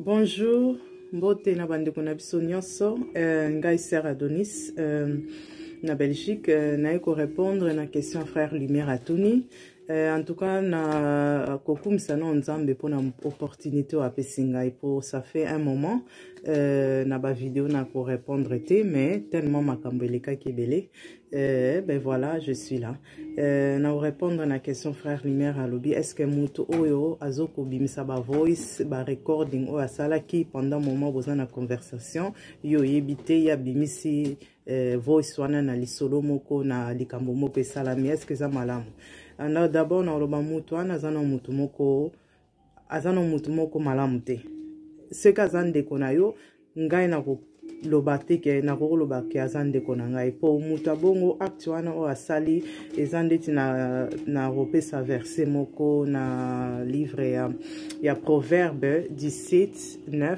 bonjour mbote na bandeko na biso nyonso euh, ngai ser adonis euh, na belgique euh, naye korépondre na question frère lumière atuni Eh, en tout cas na kokumisa nao nzambe mpona opportunité oyo apesi ngai mpo ça fait un moment eh, na bavideo na korépondre te mais tellement makambo elekaki ebele eh, ben voilà je suis là eh, na korépondre na question frère lumière alobi est ce que moto oyo azo kobimisa bavoice barecording oyo asalaki pendant moment boza na conversation yo oyebi te ye abimisi eh, voice wana na lisolo moko na likambo moko esalami eske eza malamu ah, na d'abord nakoloba motu wana aza na motu moko aza na motu moko malamu te soki aza ndeko na yo ngai nakoloba te ke nakoki koloba ke aza ndeko na ngai mpo motu abongo acte wana oyo asali eza ndeti na, na kopesa verse moko na livre ya, ya proverbe 17 9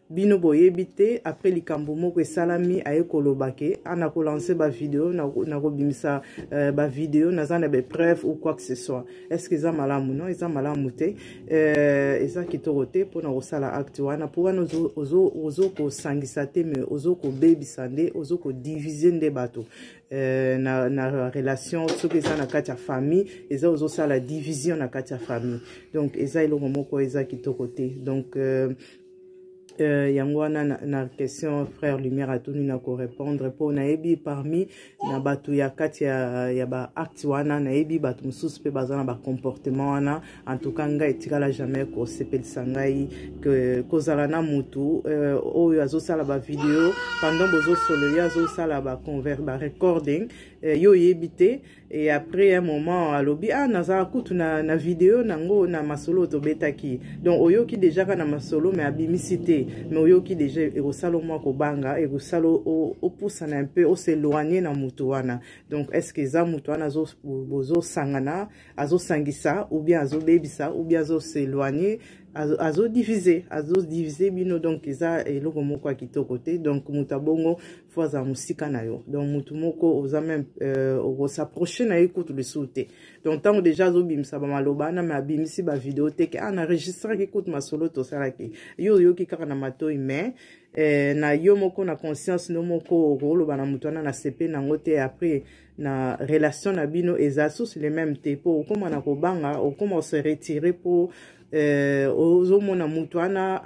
bino boyebi te après likambo moko esalami aye koloba ke ana ah, kolanse bavideo nakobimisa na euh, bavideo naza na bapreuve ou quoi que ce soit est ce que eza malamu non eza malamu te euh, eza kitoko te mpo na kosala acte wana mpo wana ozo kosangisa te me ozo kobebisa nde ozo kodivise nde bato Euh, na, na relation soki eza na kati ya famille eza ozosala division na kati ya famille donc eza eloko moko eza kitoko te donc euh, Euh, yango wana na, na question frère lumière atuni na korépondre mpo nayebi parmi na bato ya kati ya, ya baacte wana nayebi bato mosusu mpe baza na bacomportement wana en tout cas ngai etikala jamais kosepelisa ngai ke, kozala na motu euh, oyo azosala bavideo pendant bozosolo ye azosala barecording ba euh, yo oyebi te Et après un moment, alobi, ah, naza kutu na, na video nango na masolo tobetaki. Donc, oyoki deja ka na masolo, mais abimisi te. Mais oyoki deja, ekosalo mwa kobanga, ekosalo opusana un peu, oseloigner na mutu wana. Donc, est-ce que za mutu wana azo, bozo sangana, azo sangisa, ou bien azo bebisa, ou bien azo s'éloigner, azo divise azo divise bino donc eza eloko moko ya kitoko te donc moto abongo fo azala mosika na yo donc motu moko oza meme euh, okosaproche na ye kutu lisusu te donc ntango deja azobimisa bamaloba wana me abimisi bavideo te ke a ah, na registraki kutu masolo tosalaki yo oyoki kaka na matoi mais eh, na yo moko na conscience no moko okoloba na moto wana na sepe nango te après na relation na bino eza susu le même te mpo okoma na kobanga okoma ose retire mpo euh, ozomona moto wana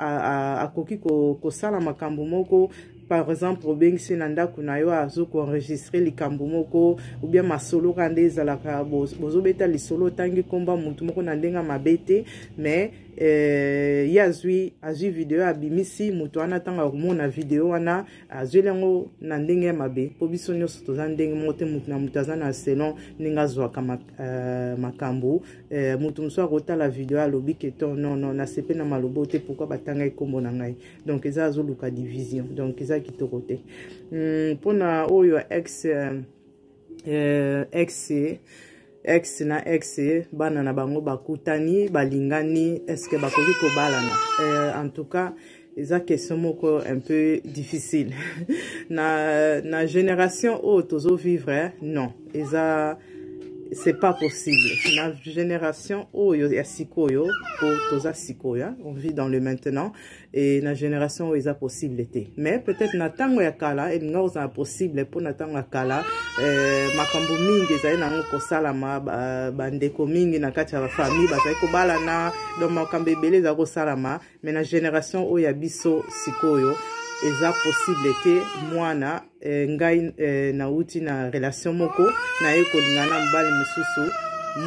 akoki kosala makambo moko par exemple obengisi na ndako na yo azo koenregistre likambo moko oubien masolo ka nde ezalaka bozobeta lisolo otangi nkomba motu moko na ndenge mabe te mais eh, ye azwi azwi video abimisi moto wana ntango akomona video wana azweli yango na ndenge ya mabe mpo biso nyonso toza ndenge moko te moto na moto aza na selon ndenge azwaka mak, uh, makambo uh, moto mosusu akotala video alobi ke to non non nasepe na malobo te pourkui batanga ekombo na ngai donc eza azoluka division donc eza kitoko te mpo hmm, um, na oyo ex uh, euh, ex ex na ex bana na bango bakutani balingani est ce que bakoki kobalana euh, en tout cas eza question moko un peu difficile na, na génération oyo tozovivre eh? non eza c'est pas possible na génération oyo ya sikoyo po toza sikoyo on vit dans le maintenant et na génération oyo eza possible te mais peut-être na ntango ya kala elinga kozala possible mpo na ntango ya kala eh, makambo mingi ezali nango kosalama bandeko ba mingi na kati ya bafamille bazali kobalana donc makambo ebele ezali kosalama mais na génération oyo ya biso sikoyo eza possible te mwana eh, ngai eh, nauti na relation moko naye kolinga na mobali mosusu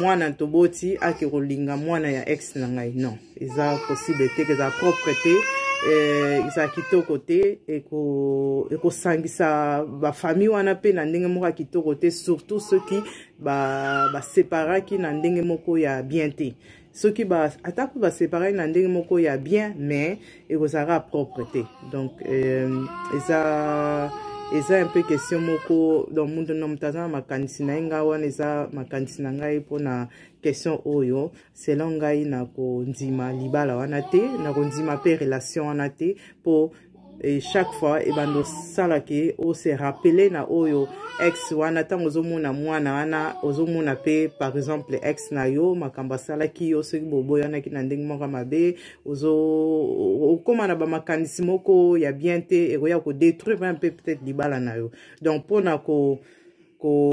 mwana toboti ake kolinga mwana ya ex na ngai non eza possible te eza propre te eh, eza kitoko te ekosangisa eko bafamille wana mpe na ndenge moko ya kitoko te surtout soki baseparaki ba na ndenge moko ya bien te soki ba ata mpe baseparaki na ndenge moko ya bien mais ekozalaka propre te donc euh, eza eza un peu question moko donc moto na moto aza na makanisi na ye ngai wana eza makanisi na ngai mpona question oyo selon ngai nakondima libala wana te nakondima mpe relation wana te mpo et chaque fois ebanda osala ke ose rappele na oyo ex wana ntango ozomona mwana wana ozomona mpe par exemple ex na yo makambo asalaki yo soki boboyanaki na ndenge moko mabe okóma na bamakanisi moko ya bien te ekoya kodétruire mpe peut-être libala na yo donc mpo na ko ko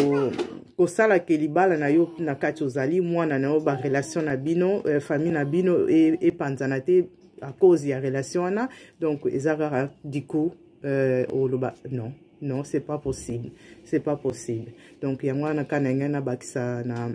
kosala ke libala na yo na kati ozali mwana na yo barelation na bino euh, famille na bino epanzana e te à cause ya relation wana donc eza kaka du coup euh, oloba non non c'est pas possible c'est pas possible donc yango wana ka na ngai nabakisa na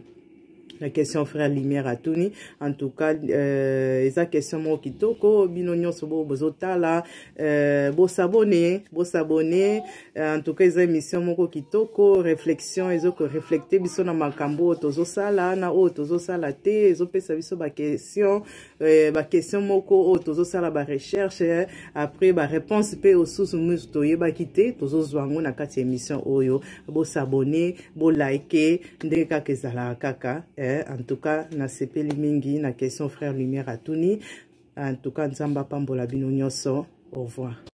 la question frère lumière atuni en tout cas euh, eza question moko kitoko bino nyonso bo bozotala euh, bosabone bosabone euh, en tout cas eza émission moko kitoko réflexion ezokoreflecte biso na makambo oyo tozosala na oyo tozosala te ezopesa biso baquestion Euh, ba question moko oyo tozosala ba recherche eh, après ba réponse mpe osusu musu toyebaki te tozozwa yango na kati ya émission oyo bosabone bolike ndenge kaka ezalaka kaka eh, en tout cas nasepeli mingi na question frère lumière atuni en tout cas nzambe apambola bino nyonso au revoir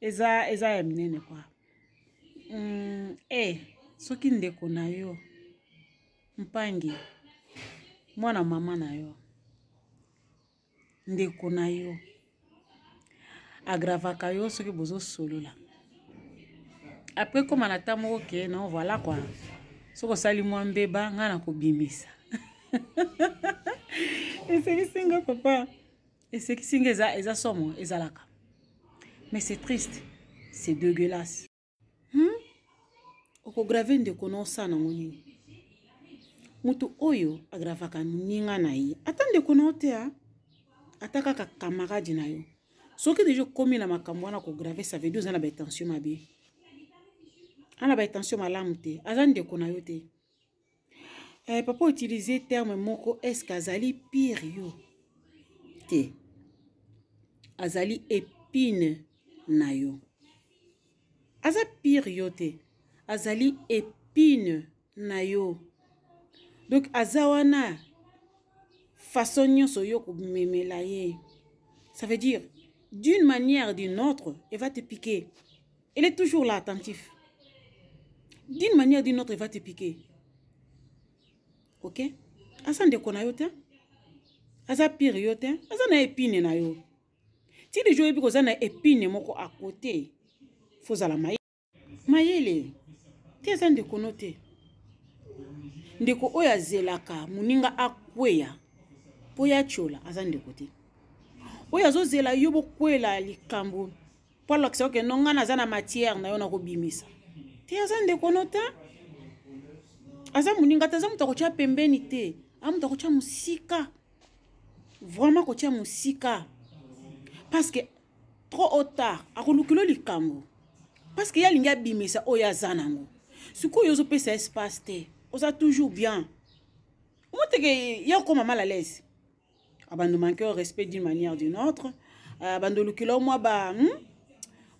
eza eza ya minene kwa mm, e eh, soki ndeko na yo mpangi mwana mama na yo ndeko na yo agravaka yo soki bozosolola apres koma na ta moko ke non voilà kua soki osali mwa mbeba ngai nakobimisa eselisi nga papa esekisi nge eza, eza somo ezalaka mais c'est triste c'est dégueulasse hmm? okograve ndeko na osana yango nini moto oyo agravaka moninga na ye ata ndeko na yo te a ata kaka kamarade na yo soki deja okomi na makambo wana kograve ça veut dire oza na batension mabe ana batension malamu te aza ndeko na yo te eh, papa utilise terme moko est-ce que azali pire yo te azali epine na yo aza pire yo te azali epine na yo donc aza wana façon nyonso yo komemela ye ça veut dire d'une manière d'une autre eva te piquer elle est toujours là attentif d'une manière d'une autre va te piquer ok aza ndeko na yo te aza pire yo te aza na epine na yo ti lijo oyebi koza na epine moko a kote fozala mayele mayele te aza ndeko no te ndeko oyo azelaka moninga akweya mpo ya tyola aza ndeko te oyo azozela yo bokwela likambo mpo alakisa oke no ngai naza na matière na yo nakobimisa te aza ndeko no te aza moninga te aza moto akotya pembeni te aza moto akotya mosika vraiment akotya mosika parce que trop au tard akolukilo likambo parce que ye alingi abimisa oyo aza nango sikoyo ozopesa espace te oza toujours bien omoteke ya okoma mal à l'aise abando manque au respect d'une manière d'une autre abando lukila mwa ba hmm?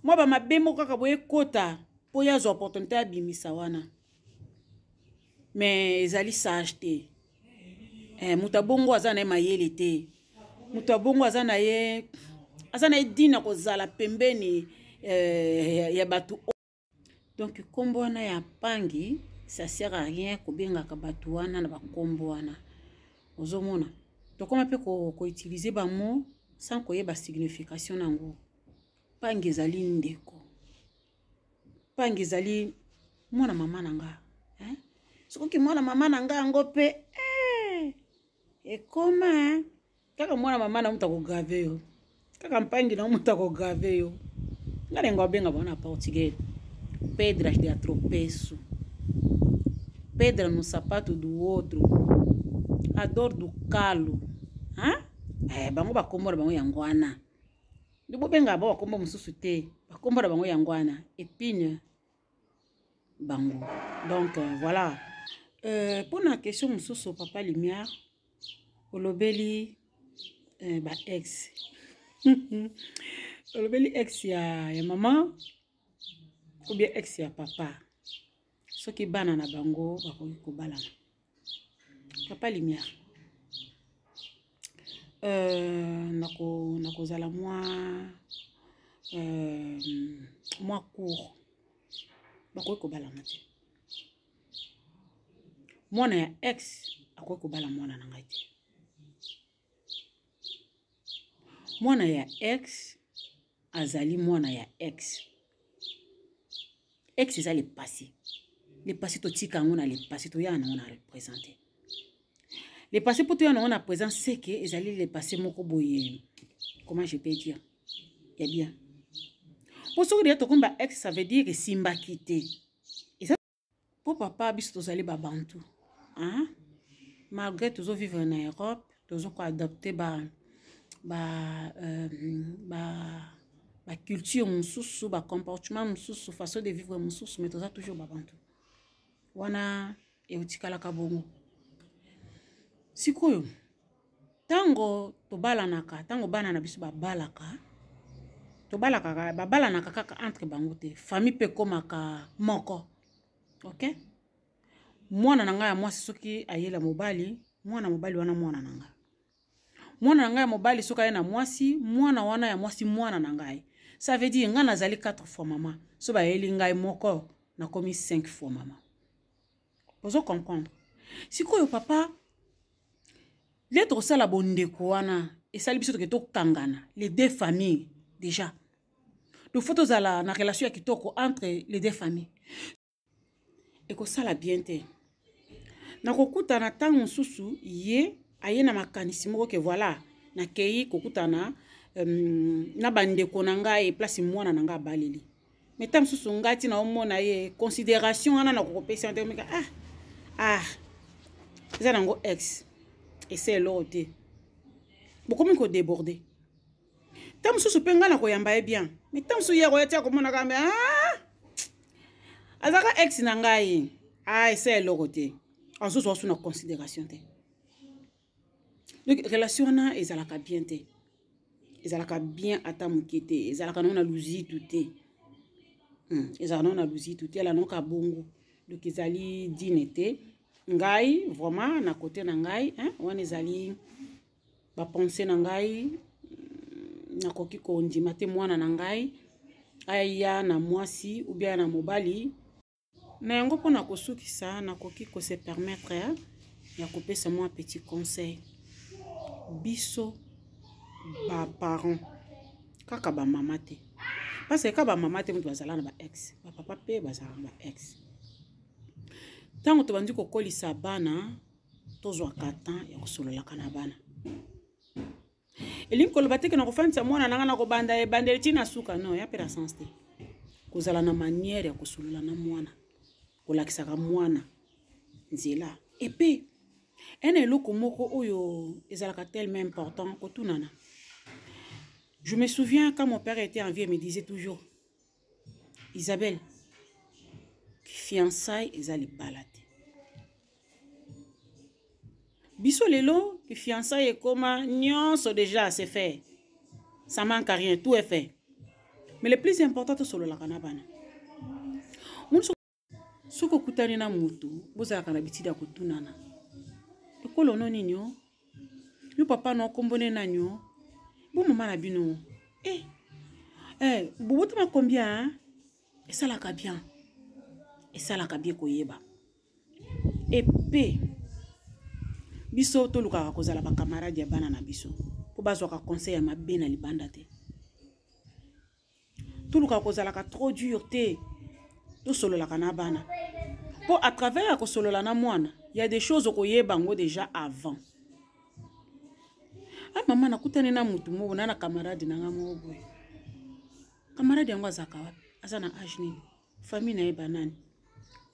mwa ba mabe moko kaka boye kota mpo ye azwa opportunité abimisa wana mais ezali sage te eh, moto abongo aza na ye mayele te moto abongo aza na ye aza na ye dina kozala pembeni eh, ya bato donc nkombo wana ya mpangi ça sert à rien kobengaka bato wana na bankombo wana ozomona tokoma mpe koutilize ko bamo sans koyeba signification na yango mpangi ezali ndeko mpangi ezali mwana mama na nga eh? soki mwana mama na nga yango mpe eh, ekoma eh? kaka mwana mama na moto akograve yo kaka mpangi na moto akograve yo nga nengo abenga bana portugais pedras de atropeço pedra no sapato do outro a dor do calo hein? eh, bango bakombo na bango yango wana nde bobenga ba bakombo mosusu te bakombo na bango yango wana epine bango donc euh, voilà euh, mpo na question mosusu papa lumière olobeli eh, ba ex olobeli ex ya, ya mama ou bien ex ya papa soki bana na bango bakoki kobalana papa lumière euh, nakozala nako mwa euh, mwa cour bakoki kobalana te mwana ya ex akoki kobala mwana na ngai te mwana ya ex azali mwana ya ex ex eza lepasi lepasi totika yango na lepasi toya na yango na represente lepasi mpo toya na yango na présent seke ezali lepasi moko boye comment je peux dire ya bien mpo soki deya tokomi ba ex ça veut dire esimbaki te po papa biso tozali babantu hein? malgré tozovivre na europe tozokoadapte ba ba euh, ba baculture mosusu bacomportement mosusu façon de vivre mosusu mais toza toujours babantu wana eotikalaka bongo sikoyo ntango tobalanaka ntango bana na biso babalaka tobalaka babalanaka kaka entre bango te famille mpe ekomaka moko ok mwana na ngai ya mwasi soki ayela mobali mwana mobali wana mwana na ngai mwana na ngai ya mobali soki aye na mwasi mwana wana ya mwasi mwana na ngai ça veut dire ngai nazali 4 fois mama so bayeli ngai moko nakomi 5 fois mama bozo comprendre sikoyo papa le tokosala bondeko wana esali biso toke tokangana les deux familles déjà donc fo tozala na relation ya kitoko entre les deux familles ekosala bien te nakokutana ntango mosusu ye aye na makanisi moko ke voilà nakei kokutana um, na bandeko na ngai place mwana na ngai abaleli mais ntango mosusu ngai ntina omona ye considération wana nakokopesa nte omika ah ah eza nango ex ese eloko te bokomi kodeborde ntango mosusu mpe ngai nakoyamba ye bien mais ntango mosusu ye akoya ti akomonaka mbe ah azalaka ex na ngai ah ese eloko te azozo wasu na considération te donc relation wana ezalaka bien te ezalaka bien ata moke te ezalaka nango na luzitu te hmm. ezalaka nango na luzitu te ala nango kabongo donc ezali dine te ngai vraiment na kote na ngai hein, wana ezali bapense na ngai hmm, nakoki kondima te mwana na ngai aya na mwasi ubia na mobali na yango mpo na kosukisa nakoki kose permettre ya kopesa mwa petit conseil biso baparent kaka bamama te parce que kaka bamama te moto bazala na baex bapapa mpe bazala na baex ntango tobandi kokolisa bana tozwaka temps ya kosololaka na bana elingi koloba te ke nakofandisa mwana nanga nakobanda ebandeli ti na suka non ya mpe na sens te kozala na manière ya kosolola na mwana kolakisaka mwana nzela epe ena eloko moko oyo ezalaka tellement important kotunana je me souviens quand mon père était en vie me disait toujours Isabelle, fiançailles eza libala te. Biso lelo, fiançailles ekoma nyonso déjà c'est fait. Ça manque à rien, tout est fait. Mais le plus important, to sololaka na bana. soki okutani na moto bozalaka na bitida ya kotunana ekolo no nini o yo papa no nkombo ne nani o bo mama na bino e eh, eh, bobotama combien esalaka bien esalaka bien koyeba epe biso tolukaka kozala bakamarade ya bana na biso mpo bazwaka conseil ya mabe na libanda te toluka kozalaka trop dur te tosololaka na bana mpo à travers ya kosolola na mwana ya des choses okoyeba yango déjà avant a ah, mama nakutani na motu moko na na camarade na ngai moko boye camarade yango azalaka wapi aza na age nini famille na ye banani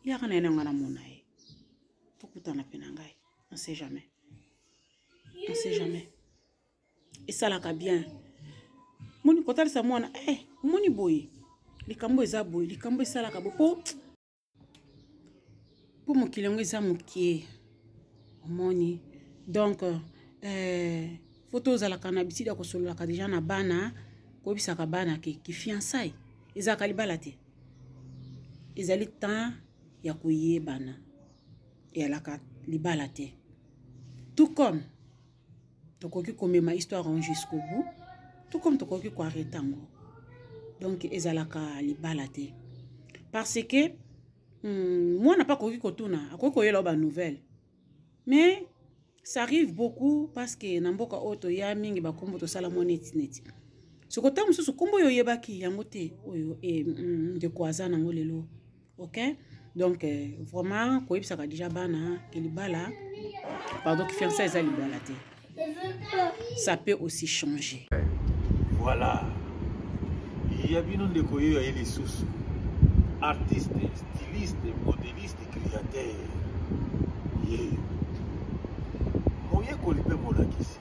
yaka na ye na ngai namona ye tokutana mpe na ngai on sait jamais on sait jamais esalaka bien moni kotalisa mwana eh, moni boye likambo eza boye likambo esalaka bo po po mokili yango eza mokie omoni donc eh, fo tozalaka na bisidi ya kosololaka deja na bana koyebisaka bana ke kifiansai ezalaka libala te ezali temps ya koyebana eyalaka libala te tout comme tokoki komema histoire yango jusqu'au bout tout comme tokoki koarrete yango donc ezalaka libala te parce que hmm, mwana mpe akoki kotuna akoki koyela yo banouvelle mais ça arrive beaucoup parce que na mboka oyo toya mingi bakombo tosala mwa neti neti soko ntango mosusu nkombo oyo oyebaki yango te oyo eh, hmm, ndeko aza nango lelo ok donc euh, vraiment koyebisaka déjà bana ke libala pardon ki fiança eza libala te ça peut aussi changer voilà ya bino ndeko yeyo aye lisusu artiste styliste modeliste créateur yeyo moyekoli mpe molakisi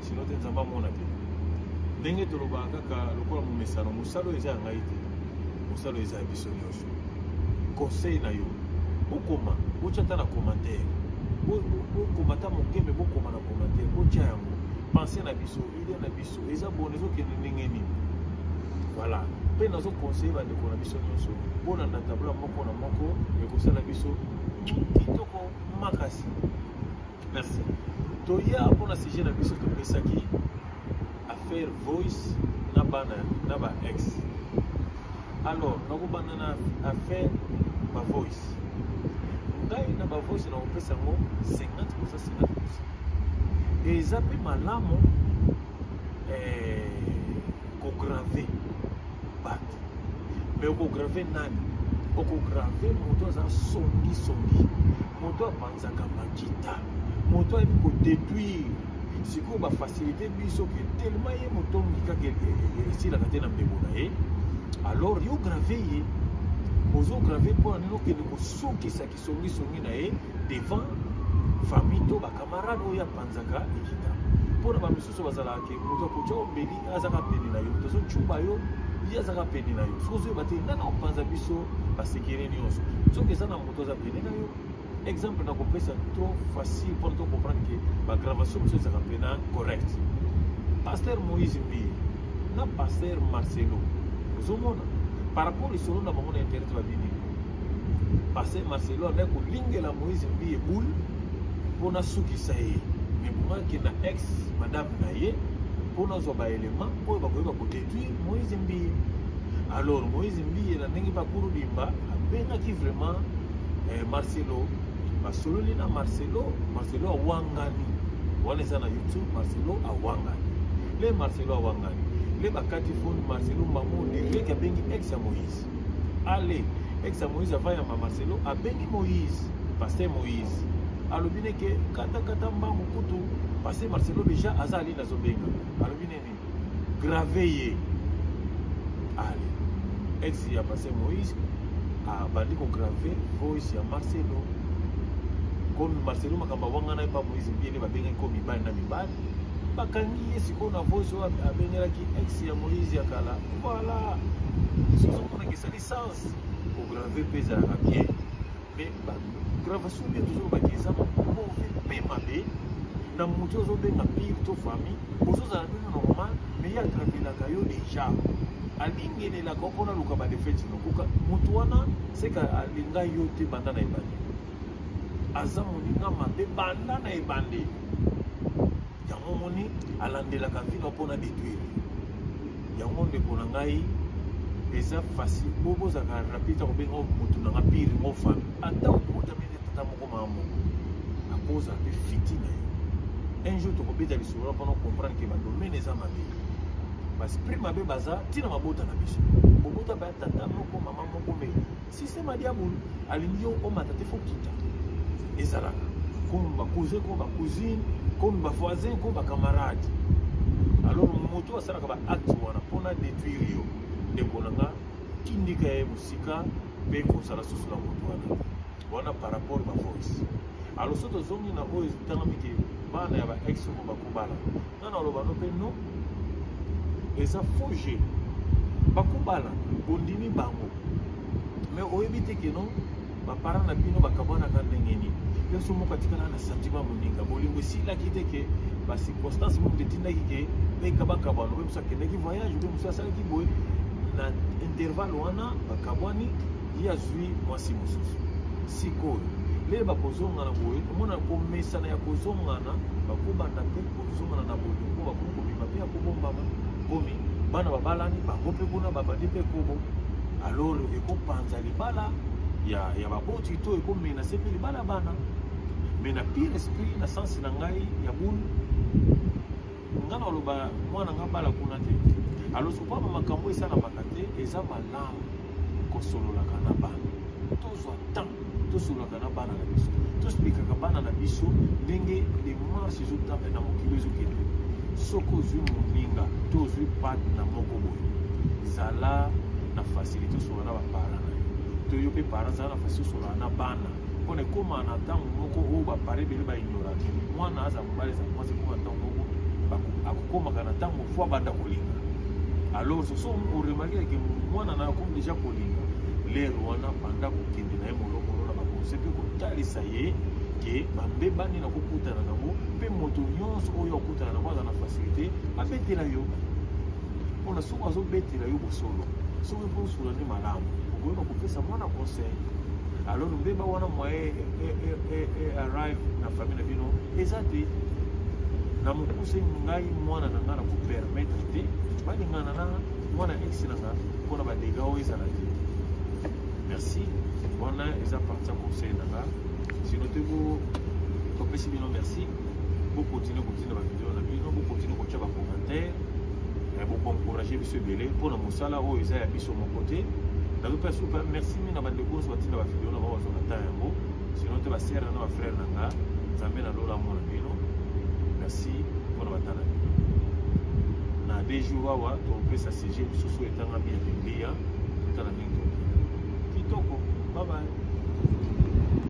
sino te nzambe amona te ndenge tolobaka kaka lokola momesano mosala oyo eza ya ngai te mosala oyo eza ya biso nyonso conseil na yo bokoma botya ata na commentaire bokoma ata moke me bokoma na commentaire botya yango pense na biso idee na biso eza bona ezokende ndenge nini voilà mpe nazoconseille bandeko na biso nyonso bolanda tabla moko na moko ekosala biso kitoko makasi Merci. Toya mpo na sujet na biso topesaki affaire voice na bana na ba ex alors nakobanda na affaire ba voice ngai na ba voice nakopesa yango 50 posa 50 posa eza mpe malamu eh, kograve bato me okograve nani okograve moto aza songisongi moto apanzaka makita moto ayebi kodetruire sikoyo bafacilite biso ke telema ye motongi kaka esilaka te na mbebo na ye alors yo grave ye ozograve mpo na nini okende kosukisa kisongisongi na ye devant famille to bacamarade oyo apanzaka ekita mpo na biso bazalaka ke moto akotya obeli azaka pene na yo tozocuba yo ye azaka pene na yo soki ozoyeba te nana opanza biso basekele nyonso soki eza na moto aza pene na yo exemple nakopesa trop facile mpona to comprendre ke bagravation mosusu ezalaka mpena correct paster moïse mbiye na paster marcelo ozomona par rapport lisolo na bango na internet babini Pasteur Marcelo a ko lingela Moïse Mbiye boule pour na sukisa ye. Mais pour que na ex madame na ye pour na zo ba élément pour ba ko ko détruire Moïse Mbiye. Alors Moïse Mbiye na ndenge ba kuru bimba abengaki vraiment eh, Marcelo basololi na Marcelo Marcelo awangani wana eza na YouTube Marcelo awangani le Marcelo awangani le bakati foni Marcelo mbango direct abengi ex ya Moïse ale ex ya moïse ava yamba marcelo abengi moïse paster moïse alobi ne ke katakata mbangu kutu paster marcelo deja aza ali nazobenga alobi ne nini grave ye ale ex ya paster moïse abandi kograve voice ya marcelo komi marcelo makambo awangana epa moïse mbiele babengaki ko mibali na mibali bakangi ye sikoyo na voice oyo abengelaki ex ya moïse ya kala Voilà. Lisusu mpo nakisa licence kograve mpe ezalaka bien mais bagravation nde tozolobaki eza mauvais mpe mabe na moto ozobenga pire to famille ozozala bino normal mais ye agravelaka yo déjà alingelelaka mpo naluka badefete nokoka moto wana seka alinga yo te banda na ebandeli aza moninga mabe banda na ebandeli yango omoni alandelaka vino mpo na detruire yango ndeko na ngai eza facile po bozalaka rapide akobenga motu nanga pire ngo fami ata okotami nde tata moko maa moko akoza mpe fiti na yo un jour tokobeta lisolo mpona comprendre ke badomene eza mabe basprit mabe baza ntina mabota na biso bobota baya tata moko mama moko mei système ya diabolo alingi yo omata te faut kita ezalaka comme ba cousin comme ba cousine comme ba voisin comme ba camarade alors moto asalaka ba acte wana mpona détruire yo ndeko na nga tindika ye mosika mpe kozala susu na moto wana wana par rapport ba voice alors so tozongi na oyo etangami ke bana ya ba ex oyo bakobala nga na loba no pe non eza faux jeu bakobala bondimi bango me oyebi te ke non bapara na bino bakabanaka ndenge nini yo so moko atikala na santima moninga bolingo esilaki te ke bacirconstance moko etindaki ke beka bakabwana obe mosu akendaki voyage obe mosu asalaki boye na intervalle wana bakabwani ye azwi mwasi mosusu sikoyo lele bakozongana boye omona komesana ya kozongana bakobanda mpe kozongana na bolingo bakomi kobima mpe ya kobombama komi bana babalani bango mpe kuna babandi mpe kobo alors ekopanza libala ya, ya baboti to ekomenase mpe libala bana me na pire esprit na sense na ngai ya bulu nga na oloba mwana nga bala kuna te alosopama makambo esalamaka te eza malamu kosololaka na bana tozwa temps tosololaka na bana na biso tosplikaka bana na biso ndenge demarche ezotanga na mokili ezokende soki ozwi moninga to ozwi pate na moko boye zala na facilité osola na baparent na yo to yo mpe parent zala na facilité osola na bana mpo na ekoma na ntango moko oyo bapare ebele baignoraki mwana aza mobali aza mwasi ekoma na ntango moko akokomaka na ntango fo abanda kolinga alors soso oremarkeke mwana na akomi deja kolinga lere wana banda kokende na ye molokolo na bakonse mpe kotalisa ye ke bambebani na kokutana nango mpe moto nyonso oyo akutana nango aza na facilité abetela yo mpona soki azobetela yo bosolo soki mpo osula nde malamu okoyeba kopesa mwana conseil alors mbeba wana moye arrive na famille na bino eza te na mokuse ngai mwana na ngai na kopermettre te balingana na mwana ex na ngai mpo na badega oyo ezala te merci wana eza parti ya conseil na ngai sino te topesi bino merci bo continuer kotinda ba video na bino bo continuer kotya ba commentaire eh, bo encourager biso ebele mpo na mosala oyo eza ya biso moko te nazopesa supe merci mingi na bandeko nyonso batinda ba video na bango bazwa na temps yango sino te basere na ba frere na nga nzambe na lola amona bino merci mpo na batala bino na deux jours awa tokopesa sujet mosusu etangami ya biblia totala ndenge tokokita kitoko babaye